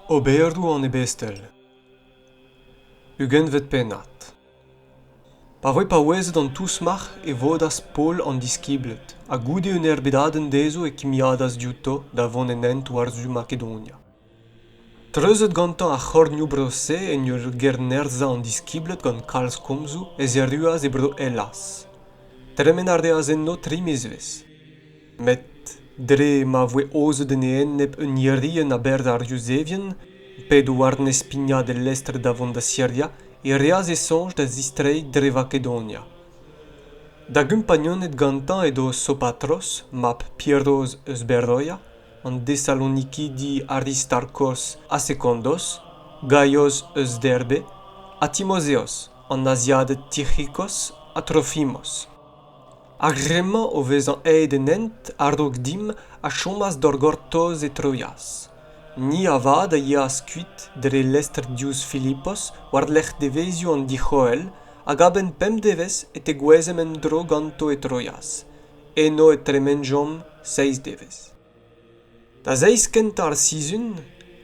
Oberoù an ebestel Ugentvet pennad Pa voe paouezet an tousmac'h e vodas Paol an diskibled, ha goude un erbedadenn dezho e kimiadas diouto da vont en hent war-zu Makedonia. Treuzet gantañ ar c'hornioù-bro-se en ur gennerzhañ an diskibled gant kalz komzoù ez erruas e bro Hellaz. Tremen a reas enno tri mizvezh. Met dre ma voe aozet en e enep un irienn a-berzh ar Yuzevien, p'edo war-nes pignat e lestr da vont da Siria, e reas e soñj da zistreiñ dre Vakedonia. Da gumpagnuned gantañ edo Sopatros, mab Piros eus Beroia, an Desalonikidi Aristarkos ha Sekondos, Gaios eus Derbe, ha Timozeos, an Aziaded Tic'hikos ha Trofimos. Ar re-mañ o vezañ aet en hent a-raok dimp a chomas d'hor gortoz e Troias. Ni avat a yeas kuit dre lestr diouzh Filipos war-lerc'h devezioù an dic'hoel hag a-benn pemp devezh e tegouezhemp en-dro ganto e Troias. Eno e tremenjomp seizh devezh. Da zeiz kentañ ar sizhun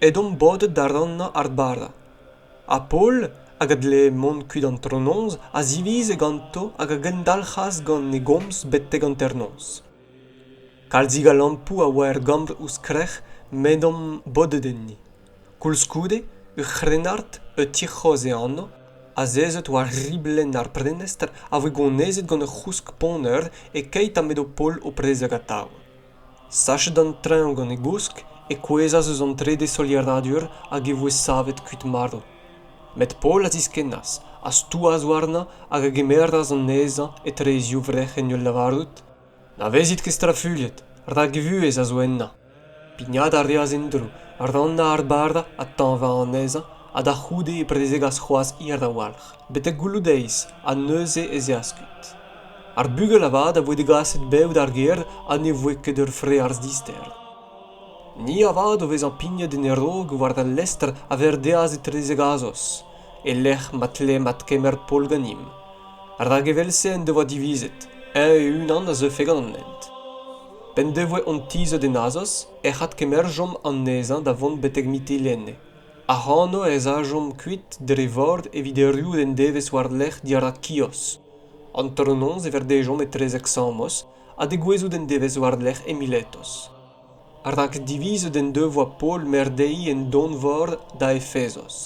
edomp bodet da rannañ ar bara. Ha Paol, hag a dlee mont kuit antronoz, a zivize ganto hag a gendalc'has gant e gomz betek hanternoz. Kalzig a lampoù a oa er gambr ouzh krec'h m'edomp bodet enni. koulskoude ur c'hrennard o tic'hroz e anv azezet war riblenn ar prenestr a voe gonezet gant ur c'housk-ponner e-keit ha m'edo paol o prezeg atav sachet an treñv gant e gousk e kouezhas eus an trede solieradur hag e voe savet kuit marv met paol a ziskennas a stouas warnañ hag a gemeras anezhañ etre e zivrec'h en ul lavarout na vezit ket strafuilhet rak e vuhez a zo ennañ pignat a reas en-dro rannañ ar bardañ ha tañvañ anezhañ ha da c'houde e prezegas c'hoazh hir a-walc'h betek goulloù-deiz ha neuze ez eas kuit ar bugel avat a voe degaset bev d'ar gêr ha ne voe ket ur frealz dister ni avat o vezañ pignet en e raok war al lestr a verdeas etre zegazos e-lec'h ma tleem adkemer Paol ganimp rak evel-se en devoa divizet eñ e-unan a zeufe gant an hent P'en devoe hon tizhet en Azos ec'h adkemerjomp anezhañ da vont betek Mitilene. Ac'hano ez ajomp kuit dre vor evit erruout en devezh war-lerc'h dirak Kios. Antronoz e verdejomp etrezek Samos ha degouezhout en devezh war-lerc'h Emiletos. Rak divizet en devoa Paol maer dezhi en donvor da Efesos,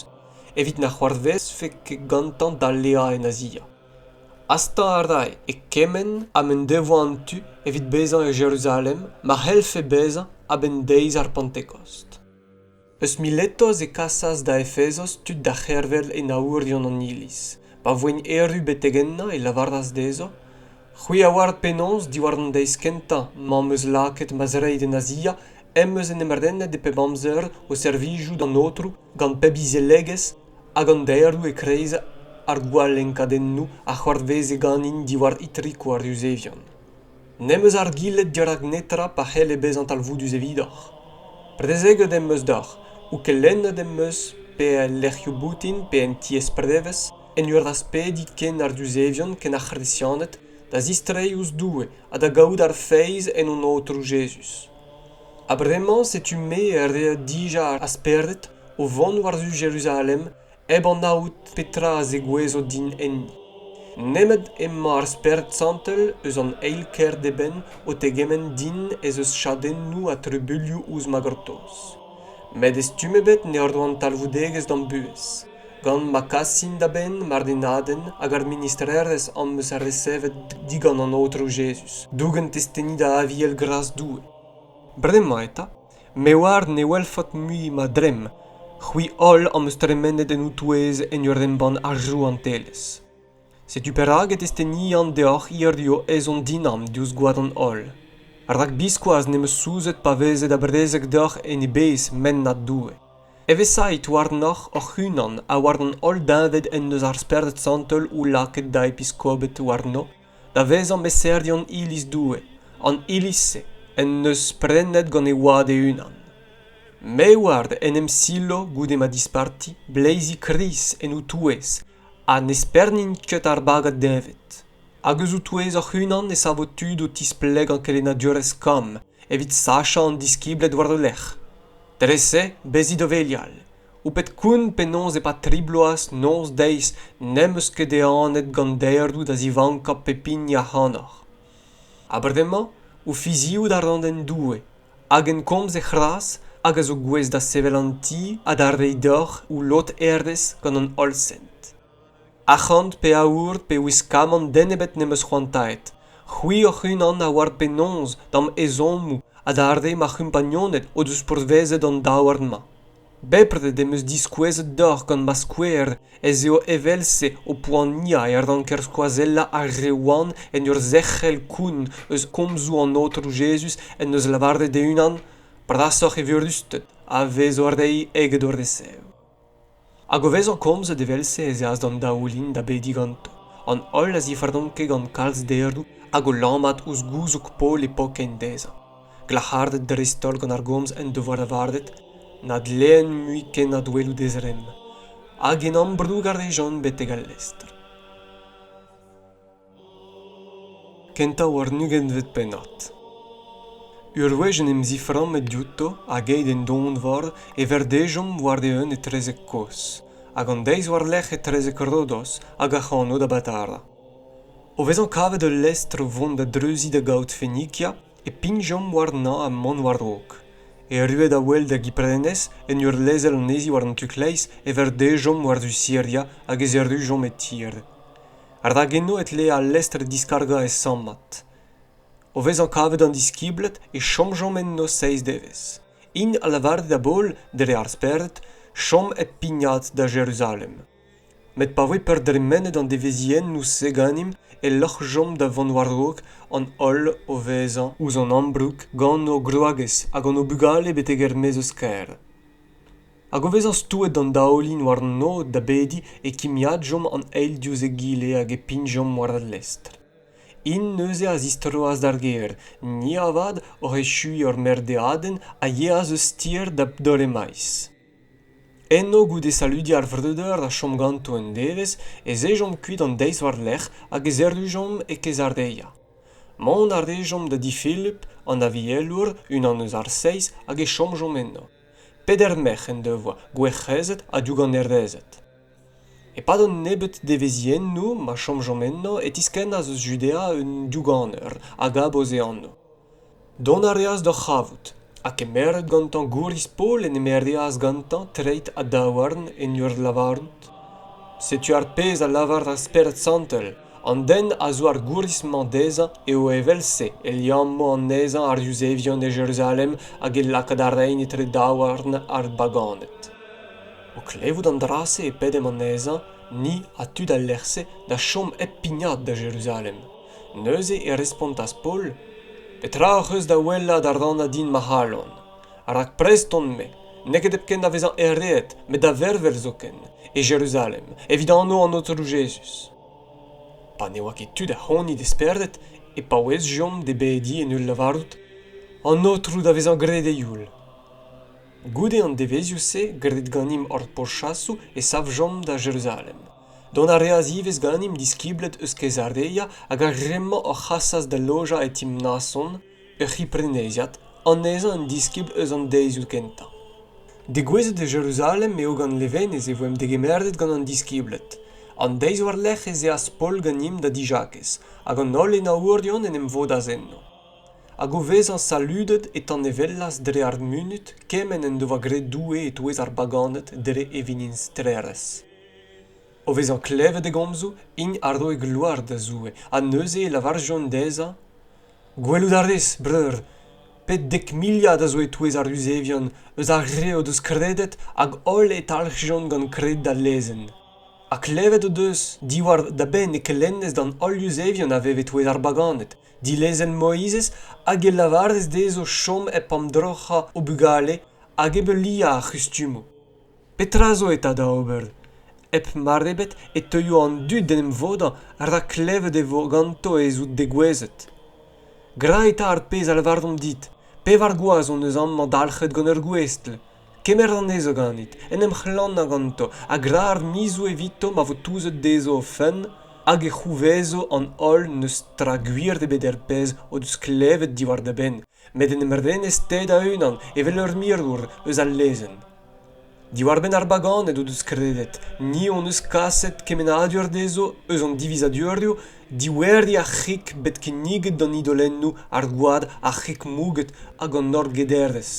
evit na c'hoarvezfe ket gantañ daleañ en Azia. Hastañ a rae e kement ha m'en devoa an tu evit bezañ e Jeruzalem ma c'hellfe bezañ a-benn deiz ar Pentekost. Eus Miletos e kasas da Efesos tud da c'hervel enaourion an Iliz. Pa voent erru betek ennañ e lavaras dezho, «C'hwi a oar penaos diwar an deiz kentañ m'am eus lakaet ma zreid en Azia em eus en em renet e pep amzer o servijout an Aotrou gant pep izelegezh hag an daeroù e-kreiz ar gwalenkadennoù a c'hoarveze ganin diwar itrikoù ar yuzevion. N'em eus argilhet dirak netra pa c'helle bezañ talvoudus evidoc'h. Prezeget em eus deoc'h ou kelennet em eus pe el lec'hioù boutin pe en tiez-prevez en ur aspediñ ken ar yuzevion ken ar C'hresianed da zistreiñ ouzh Doue ha da gaout ar feiz en hon Aotrou Jezuz. Ha bremañ setu-me a rea dija ar spered o vont war-zu Jeruzalem hep anaout petra a zegouezo din enni. Nemet emañ ar Spered Santel eus an eil kêr d'eben o tegement din ez eus chadennoù ha trubuilhoù ouzh ma gortoz. Met e stumm ebet ne roan talvoudegezh d'am buhez. gant ma kasin da benn mardennadenn hag ar ministrerezh am eus resevet digant an aotrou jezuz dougen testeni da aviel gras doue bremañ eta me oar ne welfot mui ma dremm c'hwi holl am eus tremenet en ho touez en ur embann ar rouantelezh Setu perak e testenian deoc'h hiziv ezhomm dinamm diouzh gwad an holl, rak biskoazh ne'm eus souzet pa veze da brezeg deoc'h en e bezh mennad Doue. Evesait warnoc'h hoc'h-unan ha war an holl deñved en deus ar Spered Santel o lakaet da episkoped warno da vezañ meserion Iliz Doue, an Iliz-se en deus prenet gant e Oad e-unan. Me oar en em silo goude ma disparti, bleizi Krist en ho touez ha n'espernint ket ar bagad deñved hag eus o-touez hoc'h-unan e savo tud o tisplegañ kelennadurezh kamm evit sachañ an diskibled war o lerc'h dre-se bezit o velial ho pet koun penaos e-pad tri bloaz noz deiz n'em eus ket ehanet gant derdoù da zivankañ pep hini ac'hanoc'h ha bremañ o fiziout a ran en doue hag en komz he c'hras hag a zo gouest da sevel an ti ha da reiñ deoc'h ho lod herdez gant an holl sent arc'hant pe aour pe wiskamant den ebet n'em eus c'hoantaet c'hwi hoc'h-unan a oar penaos da'm ezhommoù ha d'ar re ma c'humpagnoned o deus pourvezet an daouarn-mañ bepred em eus diskouezet deoc'h gant ma skouer ez eo evel-se ho poaniañ e ranker skoazellañ ar re wan en ur zerc'hel koun eus komzoù an aotrou jezuz en deus lavaret e-unan brasoc'h evirusted a vez o reiñ eget o resev hag o vezañ komzet evel-se ez eas d'an daoulin da bediñ ganto an holl a zifaranke gant kalz deroù hag o lammat ouzh gouzoug Paol e pokein dezhañ glac'haret dreist-holl gant ar gomz en devoa lavaret na dleen mui ken adwelout e zremm hag en ambroug a rejont betek al lestr kentañ war un ugentvet pennad ur wech en em ziframmet diouto hag aet en donvor e verdejomp war-eeun etrezek kozh hag an deiz war-lerc'h etrezek rodos hag ac'hano da batara o vezañ kavet ul lestr o vont da dreuziñ da gaout fenikia e pignjomp warnañ ha mont war-raok. Erruet a-wel da Giprenez, en ur lezel anezhi war an tu-kleiz, e verdejomp war-du Siria hag ez errujomp e tir. Rak eno e tlee al lestr diskargañ e sammad. O vezañ kavet an diskibled e chomjomp enno seizh devezh. Int a lavare da Baol, dre ar spered, chom hep pignat da Jeruzalem. met pa voe perdremenet an devezhiennoù-se ganimp e loc'hjomp da vont war-raok an holl o vezañ ouzh an ambroug gant o gwragez hag hon o bugale betek er-maez eus kêr hag o vezañ stouet d'an daoulin war an noz da bediñ e kimiadjomp an eil diouzh egile hag e pignjomp war al lestr int neuze a zistroas d'ar gêr ni avat oc'h echuiñ hor merdeadenn a yeas eus tir da doremaez Eno, goude saludiñ ar vreudeur a chom ganto un devezh, ez ejomp kuit an deiz war-lerc'h hag ez errujomp e Kezareia. Mont a rejomp da di Philip, an avielour, unan eus ar seizh, hag e chomjomp eno. Peder merc'h en devoa, gwerc'hezed ha douganerezed. E-pad an nebeud devezhiennoù ma chomjomp eno e tiskennas eus Judea un douganeur, Agabos e anv. Dont a reas d'o c'havout ha kemeret gantañ gouriz-poul en em ereas gantañ treid ha daouarn en ur lavarout Setu ar pezh a lavar ar Spered Santel, An den a zo ar gouriz-mañ dezhañ eo evel-se e liammo anezhañ ar Yuzevion e Jeruzalem hag e lakaat a raint etre daouarn ar baganed. O klevout an dra-se e pedemp anezhañ, ni ha tud al lec'h-se, da chom hep pignat da Jeruzalem. Neuze e respontas Paol, Petra ac'h eus da wellañ da rannañ din ma c'halon? Rak prest on-me n'eo ket hepken da vezañ ereet met da vervel zoken, e Jeruzalem, evit anv an Aotrou Jezuz. Pa ne oa ket tud ac'hanout e spered e paouezjomp d'e bediñ en ul lavarout, An Aotrou da vezañ graet e youl. Goude an devezhioù-se, graet ganimp hor pourchasoù, e savjomp da Jeruzalem. Dont a reas ivez ganimp diskibled eus Kezarea hag ar re-mañ hor c'hasas da lojañ e ti Mnason, ur c'hipreneiziad, anezhañ un diskibl eus an deizioù kentañ. Degouezhet e Jeruzalem eo gant levenez e voemp degemeret gant an diskibled. An deiz war-lerc'h ez eas Paol ganimp da dijakez, hag an holl enaourion en em vodas enno. hag o vezañ saludet e tanevellas dre ar munud kement en doa graet Doue e-touez ar baganed dre e vinistrerzh. O vezañ klevet e gomzoù, int a roe gloar da Zoue, ha neuze e lavarjont dezhañ Gwelout a rez, breur, pet dek miliad a zo e-touez ar Yuzevion eus ar re o deus kredet hag holl e talc'hjont gant kred da lezenn. Ha klevet o deus diwar da benn e kelennez d'an holl Yuzevion a vev e-touez ar baganed. Dilezel Moizez hag e lavarez dezho chom hep amdroc'hañ o bugale hag hep heuliañ ar c'hustumoù. Petra zo eta da ober? Hep mar ebet e teuio an dud d'en em vodañ rak klevet e vo ganto ez out degouezhet. Gra eta ar pezh a lavaromp dit. Pevar gwaz hon eus amañ dalc'het gant ur gouestl. kemer anezho ganit en em c'hlanañ ganto ha gra ar mizoù evito ma vo touzet dezho o fenn hag e c'houvezo an holl n'eus tra gwir ebet er pezh o deus klevet diwar da benn met en em renez-te da-unan evel ur mirour eus al lezenn diwar-benn ar baganed o deus kredet ni hon eus kaset kemennadur dezho eus an divizadurioù dioueriñ ar c'hig bet kinniget d'an idolennoù ar gwad ar c'hig mouget hag an orgederezh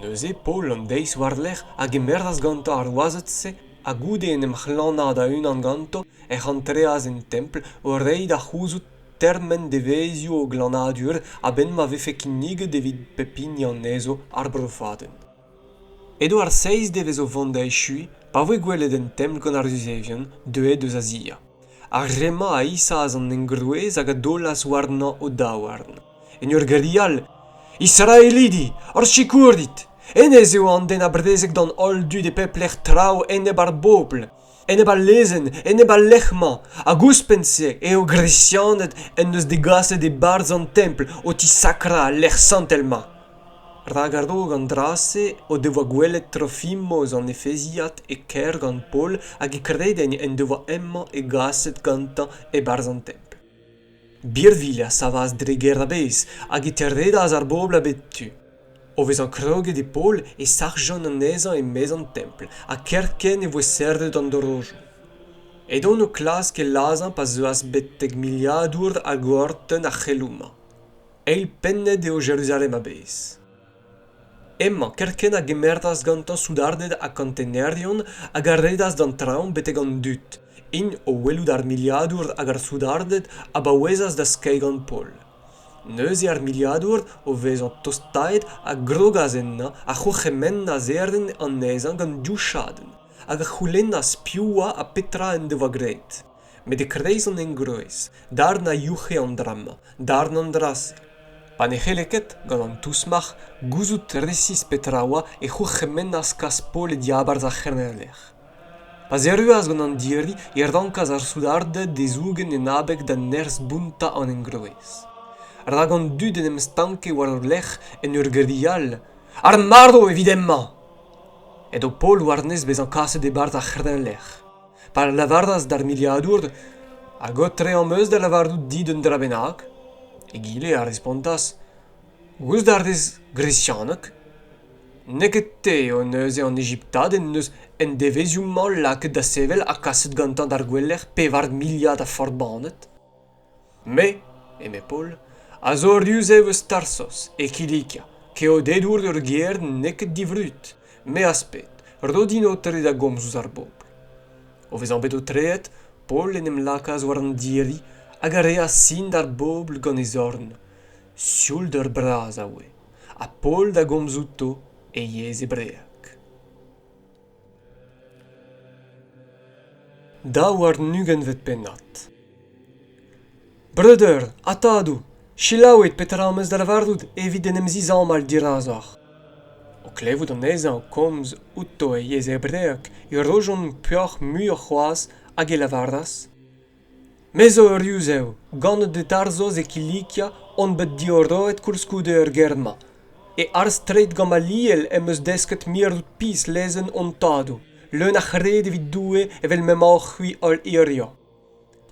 neuze paol an deiz war-lerc'h a gemeras gantañ ar wazed-se ha goude en em c'hlanañ da-unan ganto ec'h antreas en templ o reiñ da c'houzout termen devezhioù o glanadur a-benn ma vefe kinniget evit pep hini anezho ar brofadenn edo ar seiz devez o vont da echuiñ pa voe gwelet en templ gant ar yuzevien deuet eus azia ar re-mañ a isaas an engroez hag a daolas warnañ o daouarn en ur gari all israelidi hor sikour dit hennezh eo an den a brezeg d'an holl dud e pep lec'h traoù enep ar bobl enep al lezenn enep al lec'h-mañ hag ouzhpenn-se eo gresianed en deus degaset e-barzh an templ o tisakrañ al lec'h santel-mañ rak a-raok an dra-se o devoa gwelet Trofimos an Efeziad e kêr gant Paol hag e kredenn en devoa hemañ e gaset gantañ e-barzh an templ. birvilh a savas dre gêr a-bezh hag e terredas ar bobl a bep tu. O vezañ kroget e Paol e sac'hjont anezhañ e-maez an templ ha kerkent e voe serret an dorozioù. Edont o klask e lazhañ pa zeuas betek miliadour a gorton ar c'heloù-mañ. Eil pennet eo Jeruzalem a-bezh. Emma kerkent a gemeras gantañ soudarded ha kontegnerion hag a redas d'an traoñ betek an dud. int o welout ar miliadour hag ar soudarded a baouezas da skeiñ gant Paul. Neuze ar miliadour, o vezañ tostaet, a grogas ennañ, a c'hourc'hemennas erin anezhañ gant div chadenn, hag a c'houlennas piv oa ha petra en devoa graet. met e-kreiz an engroez darn a youc'he an dra-mañ darn an dra-se pa ne c'helle ket gant an tousmac'h gouzout resis petra a oa e c'hourc'hemennas kas-pol e diabarzh ar c'heneller pa'z erruas gant an diri e rankas ar soudarded e zougen en abeg da nerzh bountañ an engroez rak an dud en em stanke war o lerc'h en ur grial ar marv evit hemañ edo pol war-nes bezañ kaset e-barzh ar c'heneller Pa lavaras d'ar miliadour hag aotre am eus da lavarout dit un dra bennak, egile a respontas Goust a rez gresianeg ? N'eo ket te eo neuze an Ejiptad en deus en devezhioù-mañ lakaet da sevel ha kaset gantañ d'ar gouelec'h pevar miliad a forbaned ? Me, eme Paol, a zo ruzev eus Tarsos, e Kilikia, keodedour ur gêr n'eo ket divrud, me az ped, ro din aotre da gomz ouzh ar bobl. O vezañ bet aotreet, Paol en em lakaas war an diri hag a reas sin d'ar bobl gant e zorn. Sioul deur bras a oe, ha Paol da gomz outo e yezh hebreek. Daou warn-ugentvet pennad. Breudeur ha tadoù, selaouit petra am eus da lavarout evit en em zizamall dirazoc'h. O klevout anezhañ o komz outo e yezh hebreek e rojont peoc'h muioc'h c'hoazh hag e lavaras Me zo ur yuzev, ganet e Tarzhoz e Kilikia, on bet diorroet koulskoude er gêr-mañ. E arz-straed Gamaliel em eus desket mirout-pizh lezenn hon tadoù, leun a c'hred evit Doue evel m'emaoc'h-c'hwi holl hiziv.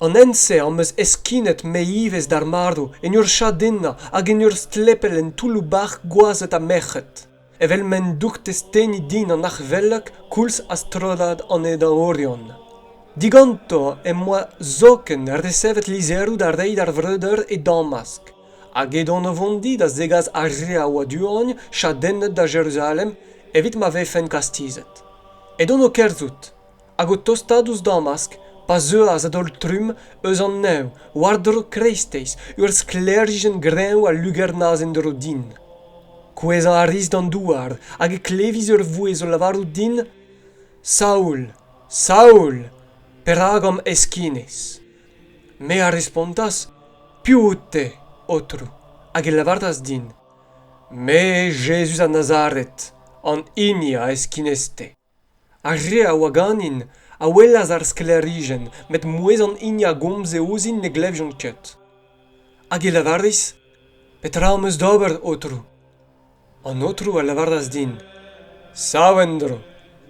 An hent-se am eus heskinet me ivez d'ar marv en ur chadennañ hag en ur stlepel en toulloù-bac'h gwazed ha merc'hed. Evel m'en doug testeni din an arc'hvelloc koulz ha strollad an edaorion. Diganto em boa zoken resevet lizheroù da reiñ d'ar vreudeur e damask, hag edon o vont di da zegas ar re a oa du-hont chadennet da Jeruzalem evit ma vefen kastizet. Edon o kerzhout. hag o tostaat ouzh damask pa zeuas a-daol-trumm eus an neñv war-dro kreisteiz ur sklêrijenn greñv a lugernas en-dro din. Kouezhañ a ris d'an douar hag e klevis ur vouezh o lavarout din Saoul, Saoul, perak am heskinis? Me a respontas Piv out-te, Aotrou? Hag e lavaras din Me, Jezuz a Nazaret, an hini a heskinis-te. Ar re a oa ganin a welas ar sklêrijenn met mouezh an hini a gomze ouzhin ne glevjont ket. Hag e lavaris, Petra am eus d'ober, Aotrou? An Aotrou a lavaras din, Sav en-dro,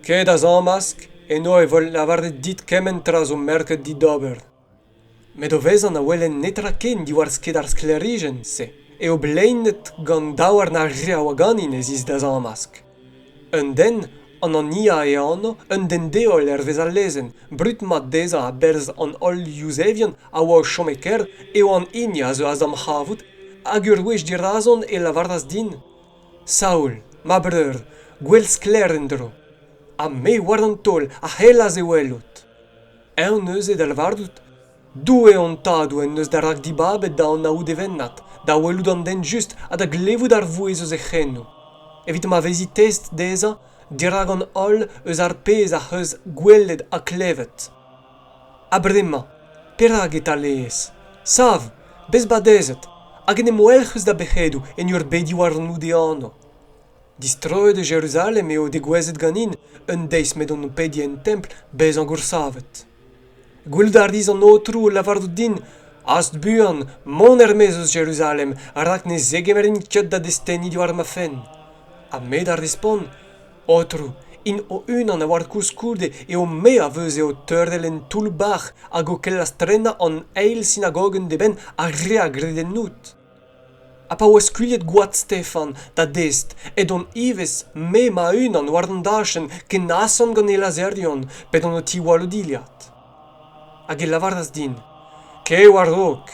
ket a zamask, eno e vo lavaret dit kement tra zo merket dit d'ober. Met o vezan a welen netra ken diwar-sked ar sklêrijenn-se eo bleinet gant daouarn ar re a oa ganin ez is da zamask. Un den, an Ania e anv, un den-deol hervez al lezenn, brud-mat dezhañ a-berzh an holl Yuzevion a oa o chom e-kêr, eo an hini a zeuas d'am c'havout, hag ur wech dirazon e lavaras din « Saoul, ma breur, gwell sklaer en-dro, ha me war an taol a c'hellas e welout. Eñ neuze da lavarout, Doue hon Tadoù en deus da rakdibabet da anaout e vennad, da welout an den just ha da glevout ar vouezh eus e c'henoù, evit ma vezi test dezhañ dirak an holl eus ar pezh ac'h eus gwelet ha klevet. Ha bremañ, perak e talaez? Sav, bez badezet, hag en em welc'h eus da bec'hedoù en ur bediñ warnout e anv. Distroet eus Jeruzalem eo degouezhet ganin un deiz m'edon o pediñ en templ bezañ goursavet. Gwelout a ris an Aotrou o lavarout din hast buan mont er-maez eus Jeruzalem rak ne zegemerin ket da destenniñ diwar ma fenn. Ha me da respont, Aotrou, int o-unan a oar koulskoude eo me a veuze o teurel en toull-bac'h hag o kellas tennañ an eil sinagogenn d'eben ar re a gred ennout. ha pa oa skuilhet gwad Stefan da dest edont ivez me ma-unan war an dachenn ken asant gant e lazherion pe gant ho tiwall o dilhad hag e lavaras din kae war-raok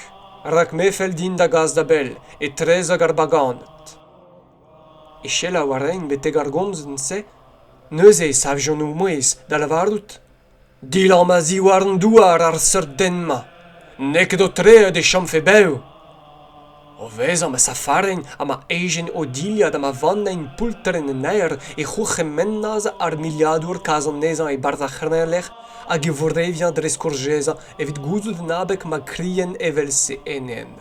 rak me fell din da gas da bell etrezek ar baganed e selaou a raen betek ar gomzin-se neuze e savjont o mouezh da lavarout Dilamm a-ziwar an douar ar seurt den-mañ. N'eo ket aotreet e chomfe bev. O vezañ ma safarin ha ma ejen o dilhad ha ma vannein poultrenn en aer e c'hourc'hemennas ar miliadour kas anezhañ e-barzh ar c'hreñvlec'h hag e vourreviañ dre skourjezañ evit gouzout en abeg ma krien evel-se enep.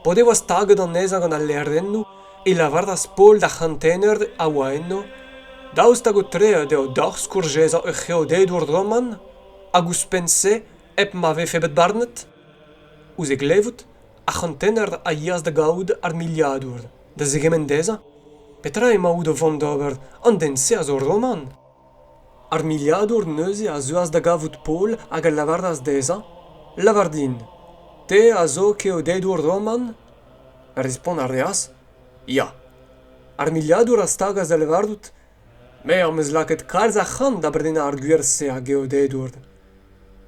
P'o devoa staget anezhañ gant al lêrennoù e lavaras Paol d'ar c'hantener a oa eno daoust hag aotreet eo deoc'h skourjezañ ur c'heodedour roman hag ouzhpenn-se hep ma vefe bet barnet? Ouzh e glevout, ar c'hantener a yeas da gavout ar miliadour da zegemenn dezhañ petra emaout o vont d'ober an den-se a zo roman. Ar miliadour neuze a zeuas da gavout Paol hag a lavaras dezhañ, Lavar din, te a zo keodedour roman? Respont a reas, Ya. Ar miliadour a stagas da lavarout, Me am eus lakaet kalz a c'hant da brenañ ar gwir-se a geodedour.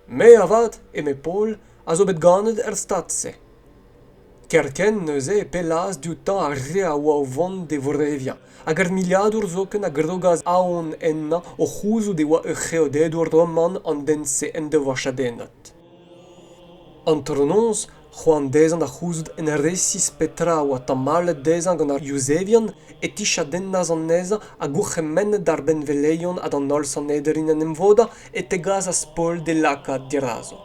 Me avat, eme Paol, a zo bet ganet er stad-se. kerkent neuze e pellaas dioutañ ar re a oa o vont d'e voreviañ hag ar miliadour zoken a grogas aon ennañ o c'houzout e oa ur c'heodedour roman an den-se en devoa chadennet antronoz c'hoant dezhañ da c'houzout en resis petra a oa tamallet dezhañ gant ar yuzevien e tichadennas anezhañ ha gourc'hemennet d'ar benveleion ha d'an holl sanederien en em vodañ e tegasas Paol d'e lakaat dirazo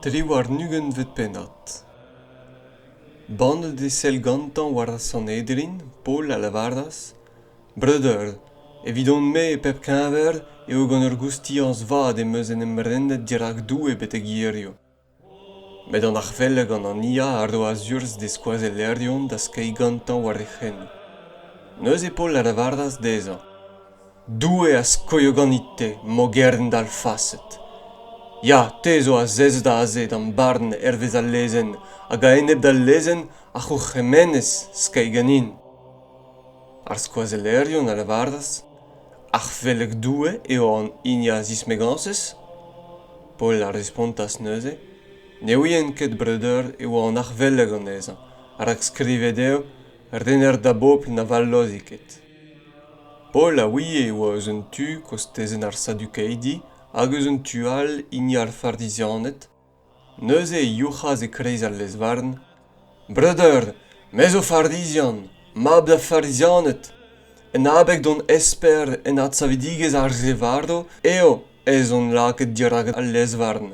Triwar-ugentvet pennad. Bannet e sell gantañ war ar Sanhedrin, Paol a lavaras, Breudeur, evidon-me e pep keñver eo gant ur goustiañs vat em eus en em renet dirak Doue betek hiziv. Met an arc'hvell gant an Ia a roas urzh d'e skoazellerion da skeiñ gantañ war e c'henou. Neuze Paol a lavaras dezhañ, Doue a skoio ganit-te, mogern dalfaset. Ya, te zo azezet aze d'am barn hervez al lezenn, hag a-enep d'al lezenn a c'hourc'hemenez skeiñ ganin. Ar skoazellerion a lavaras, Ar Felleg Doue eo an hini a zismegañsez? Paol a respontas neuze, Ne ouien ket, breudeur, e oa an Arfelleg anezhañ, rak skrivet eo, Rener da bobl na vallozi ket. Paul a ouie e oa eus un tu kostezenn ar sadukaidi hag eus un tu all hini ar farizianed. Neuze e youc'has e-kreiz al lez-varn ' Breudeur, me zo farizian, mab da Farizianed. En abeg d'hon esper en adsavidigezh ar re varv eo ez on lakaet dirak al lez-varn.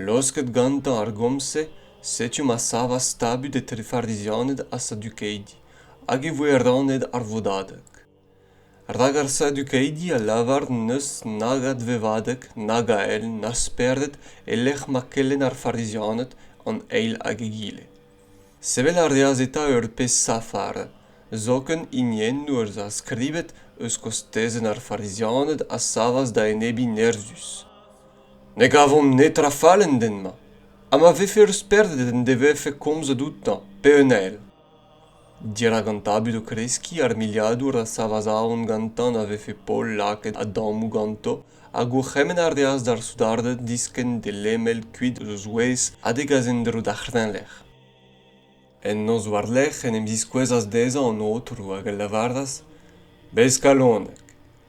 Laosket gantañ ar gomz-se, setu ma savas tabut etre Farizianed ha Sadukeidi, hag e voe rannet ar vodadeg. Rak ar Sadukeidi a lavar n'eus nag advevadeg, nag ael, na spered e-lec'h ma kelenn ar Farizianed an eil hag egile. Sevel a reas eta ur pezh safar, zoken hiniennoù az a skrivet eus kostezenn ar Farizianed a savas da enebiñ nerzhus. Ne gavomp netra fall en den-mañ ha ma vefe ur spered en devefe komzet outañ pe un ael. Dirak an tabut o kreskiñ ar miliadour a savas aon gantañ na vefe Paol lakaet a-dammoù ganto hag gourc'hemenn a reas d'ar soudarded diskenn d'e lemel kuit eus o zouez ha degas en-dro d'ar c'hreñvlec'h. En noz war-lerc'h en em ziskouezas dezhañ an aotrou hag a lavaras Bez kalonek,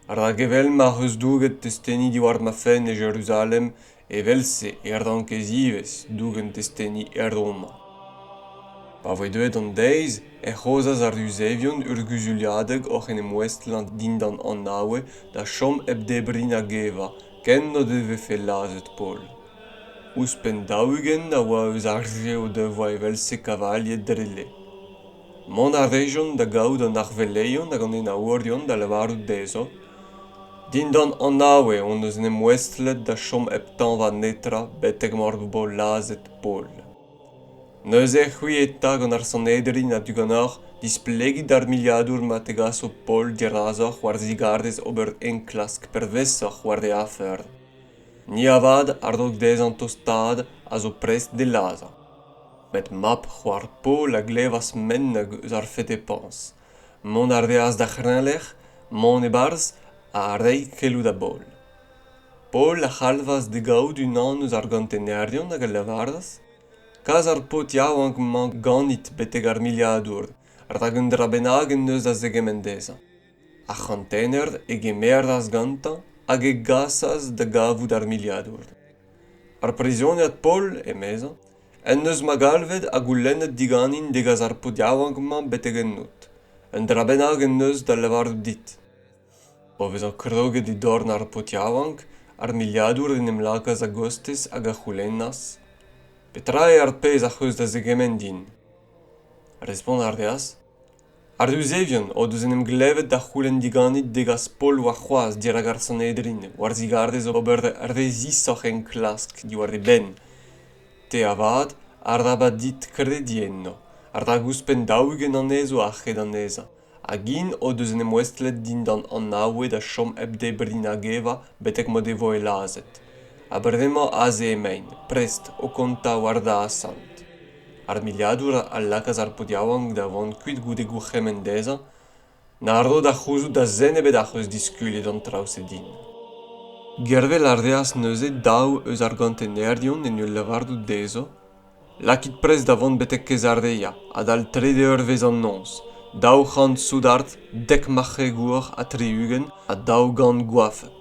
rak evel ma'c'h eus douget testeni diwar ma fenn e Jeruzalem, evel-se e rankez ivez dougen testeni er Roma. Pa voe deuet an deiz, ec'h aozas ar Yuzevion ur guzuliadeg oc'h en em ouestlañ dindan an Awe da chom hep debriñ nag evañ, ken n'o devefe lazhet Paol. Ouzhpenn daou-ugent a oa eus ar re o devoa evel-se kavalied dre lec'h. Mont a rejont da gaout an arveleion hag an enaourion da lavarout dezho Dindan anav eo hon eus en em ouestlet da chom hep tañva netra betek m'hor bo lazhet Paol. Neuze c'hwi eta gant ar Sanhedrin a-du ganeoc'h displegit d'ar miliadour ma tegaso Paol dirazoc'h war zigarez ober enklask pervezoc'h war e afer. Ni avat a rog dezhañ tostaat a zo prest d'e lazhañ. Met mab c'hoar Paol a glevas ment eus ar fetepañs. Mont a reas d'ar c'hreñvlec'h, mont e-barzh ha reiñ keloù da Baol. Paol a c'halvas d'e gavout unan eus ar gontenerion hag a lavaras kas ar paotr yaouank-mañ ganit betek ar miliadour, rak un dra bennak en deus da zegemenn dezhañ. Ar c'hantener e gemeras gantañ hag e gasas da gavout ar miliadour. Ar prizioniad Paul, emezañ, en deus ma galvet ha goulennet diganin degas ar paotr yaouank-mañ betek ennout. Un dra bennak en deus da lavarout dit. O vezañ kroget e dorn ar paotr yaouank, ar miliadour en em lakaas a-gostez hag a c'houlennas: Petra eo ar pezh ac'h eus da zegemenn din? Respont a reas: ar yuzevion o deus en em glevet da c'houlenn diganit degas pol warc'hoazh dirak ar sanhedrin war-zigarez ober re zisoc'h enklask diwar e benn te avat arabat dit krediñ enno rak ouzhpenn daou-ugent anezho a-hed an ezañ hag int o deus en em ouestlet dindan anaoued a chom hep debriñ nag evañ betek m'o devoe lazhet ha bremañ aze emaint prest o kontañ war da asant ar miliadour a lakaas ar paotr yaouank da vont kuit goude gourc'hemenn dezhañ na ro da c'houzout da zen ebet ac'h eus diskuliet an traoù-se din. Gervel a reas neuze daou eus ar gantenerion en ul lavarout dezho Lakit prest da vont betek Kezarea adal trede eurvezh an noz, daou c'hant soudard, dek marc'hegour ha tri-ugent ha daou gant goafek.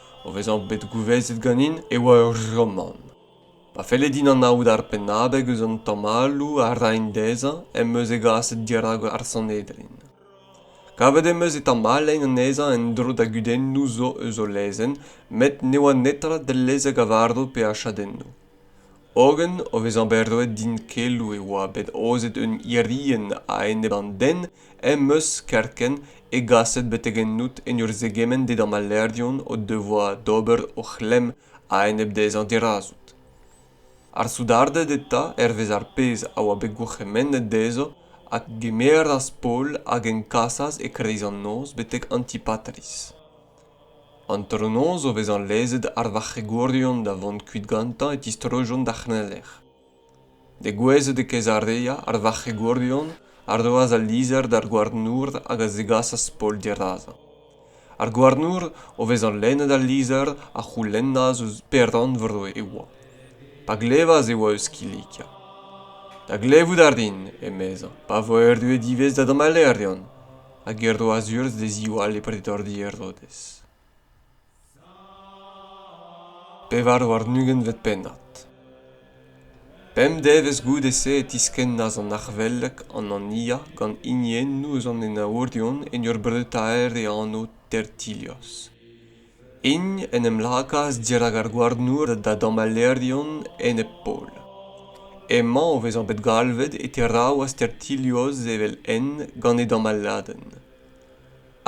O vezañ bet gouvezet ganin e oa ur romant. Pa felle din anaout ar pennabeg eus an tamalloù a raen dezhañ em eus e gaset dirak ar Sanhedrin. Kavet em eus e tamallein anezhañ en-dro da gudennoù zo eus o lezenn met ne oa netra dellezek a varv pe a chadennoù. hogen o vezañ bet roet din keloù e oa bet aozet un irienn a-enep an den em eus kerkent e gaset betek ennout en ur zegemenn dindan ma lêrion o devoa d'ober o c'hlemm a-enep dezhañ dirazout ar soudarded eta hervez ar pezh a oa bet gourc'hemennet dezho a gemeras paol hag en kasas e-kreiz an noz betek antipatris Antronoz, o vezañ lezet ar varc'hegourion da vont kuit gantañ, e tistrojont d'ar c'hreñvlec'h. Degouezhet e Kezarea, ar varc'hegourion a roas al lizher d'ar gouarnour hag a zegasas Paol dirazañ. Ar gouarnour, o vezañ lennet al lizher, a c'houlennas ouzh peran vreur e oa. Pa glevas e oa eus Kilikia. Da glevout a rin, emezañ, pa vo erruet ivez da damalerion. hag er roazh-urzh da ziwall e pretordi Herodez. Pevar warn-ugentvet pennad Pemp devezh goude-se e tiskennas an arc'hvelek Anania gant hiniennoù eus an enaourion en ur breutaer e anv Tertilios. int en em lakaas dirak ar gouarnour da damallerion enep-pol. Emañ o vezañ bet galvet e teraou Astertilios evel-henn gant e damalladenn.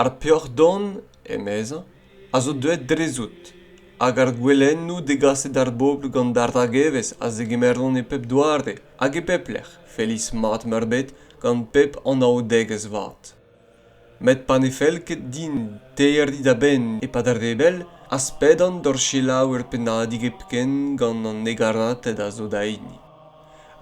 Ar peoc'h-don, emezañ, a zo deuet drezout, hag ar gouelennoù degaset d'ar bobl gant ar ragevezh a zegemeront e pep doare hag e pep lec'h, feiz mat-meurbet gant pep anaoudegezh vat. met pa ne fell ket din terriñ da benn e-pad ar rebell az pedan d'hor selaou ur pennadig hepken gant an hegarated a zo da hini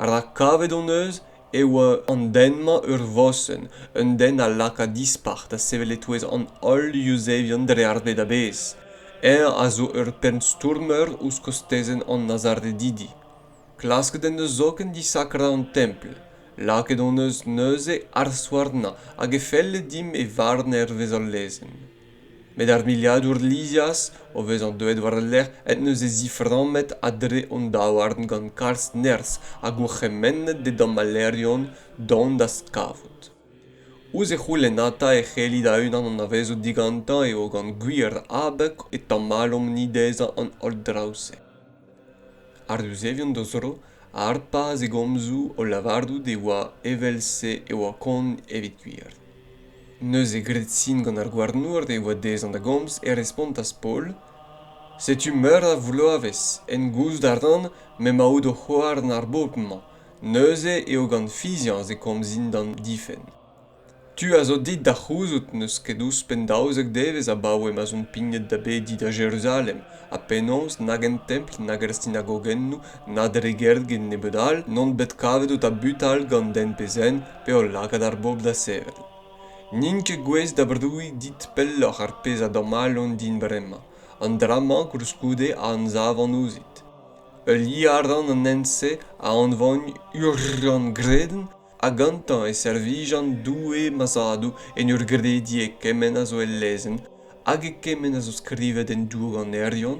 rak kavet hon eus e oa an den-mañ ur vosenn un den a laka dispac'h da sevel e-touez an holl yuzevion dre ar bed a-bezh eñ a zo ur pennstourmer ouzh kostezenn an nazaredidi klasket en deus zoken disakrañ an templ lakaet hon eus neuze ar souarnañ hag e felle dimp e varn hervez hol lezenn met ar miliadour lizias o vezañ deuet war-lerc'h en deus e ziframmet a-dre hon daouarn gant kalz nerzh ha gourc'hemennet d'e damalerion dont d'az kavout ouzh e c'houlennata e c'helli da-unan anavezout digantañ eo gant gwir abeg e tamalomp-ni dezhañ an holl draoù-se ar yuzevion d'o zro a harpas e gomzoù o lavarout e oa evel-se e oa kont evit gwir neuze graet sin gant ar gouarnour e oa dezhañ da gomz e respontas paul setu meur a vloavezh en gouzout a ran m'emaout o c'houarn ar bobl-mañ neuze eo gant fiziañs e komzin d'an difenn tu a zo dit da c'houzout n'eus ket ouzhpenn daouzek devezh abaoe ma'z on pignet da bediñ da jeruzalem ha penaos nag en templ nag er sinagogennoù na dre gergin nebeut all n'on bet kavet o tabutal gant den pe zen pe o lakaat ar bobl da sevel n'int ket gouest da brouiñ dit pelloc'h ar pezh a damallont din bremañ an dra-mañ koulskoude a anzavan ouzhit heuliañ a ran an hent-se a anvagn urgent gredenn ha gantañ e servijan Doue ma zadoù en ur grediñ e kement a zo el lezenn hag e kement a zo skrivet en douanerion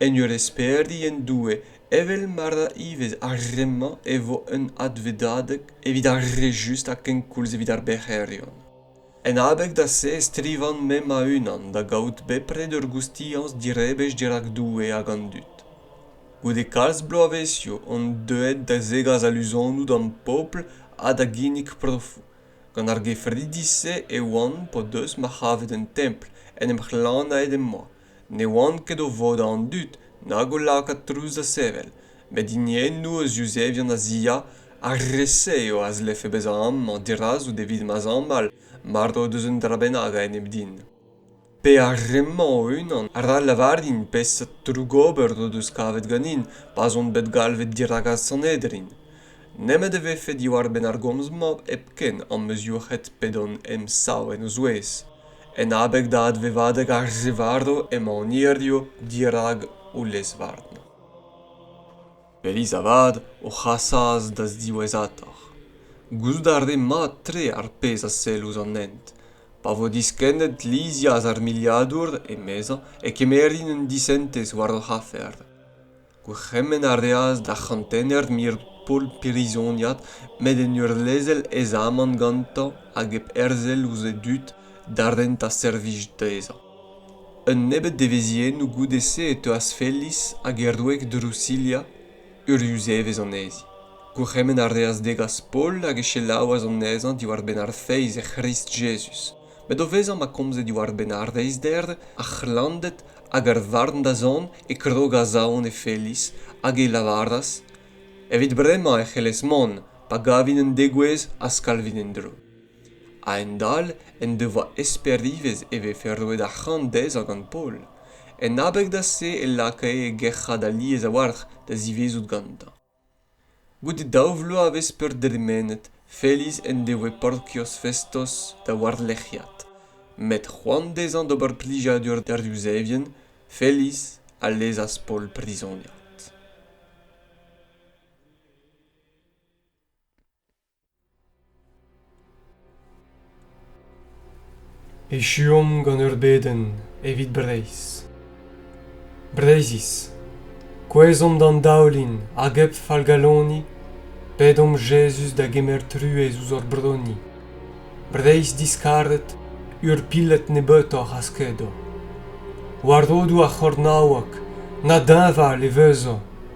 en ur esperiñ en Doue evel ma ra ivez ar re-mañ e vo un advedadeg evit ar re just ha kenkoulz evit ar bec'herion. en abeg da-se e strivan me ma-unan da gaout bepred ur goustiañs direbech dirak Doue hag an dud. Goude kalz bloavezhioù on deuet da zegas aluzonoù d'am pobl ha da ginnig profoù. Gant ar gefridi-se e oan p'o deus ma c'havet un templ en em c'hlanaet em boa. ne oant ket o vodañ an dud nag o lakaat trouz da sevel met hiniennoù eus yuzevien azia ar re-se eo a zlefe bezañ amañ dirazout evit ma zamball mard o deus un dra bennak a-enep din pe ar re-mañ o-unan ra lavarin peseurt trougober o deus kavet ganin pa'z on bet galvet dirakast sanhedrin nemet e vefe diwar-benn ar gomz-mañ hepken am eus yoc'hed p'edon em sav en o zouez En abeg da advevadeg ar zevarv emaon hiziv dirak ho lez-varn. Feiz avat ho c'hasas da ziwezhatoc'h. Gouzout a rin mat-tre ar pezh a sell ouzh an hent. Pa vo diskennet lizhias ar miliadour, emezañ, e kemerin un disentez war hoc'h afer. Gourc'hemenn a reas d'ar c'hantener mir Paul prizoniad met en ur lezel e zamant gantañ hag hep herzel ouzh e dud da rentañ servij dezhañ. Un nebeud devezhiennoù goude-se e teuas Felis hag e wreg Drusilia uriuzevezh anezhi. Gourc'hemenn a reas degas Paul hag e selaouas anezhañ diwar-benn ar feiz e C'hrist Jezuz. met o vezañ ma komze diwar-benn ar reizhder ar c'hlannded hag ar varn-dazont e krogas aon e felis hag e lavaras evit bremañ e c'hellez mont pa gavin un degouezh ha skalvin en-dro a-hend-all en devoa esper ivez e vefe roet arc'hant dezhañ gant paol en abeg da se e lakae e gerc'hat alies a-walc'h da zivezout gantañ Goude daou vloavezh peurderemenet Feliz en devoe Porkios Festos da warlerc'hiad. Met c'hoant dezhañ d'ober plijadur d'ar Yuzevien, Feliz a lezas Paol prizoniad. Echuomp gant ur bedenn evit Breizh. Breizhiz, kouezhomp d'an daoulin hag hep fallgaloni, pedomp Jezuz da gemer truez ouzh hor broni. Breizh diskaret, ur piled nebeutoc'h a skedo. War rodoù ar c'hornaoueg, na deñval e vezo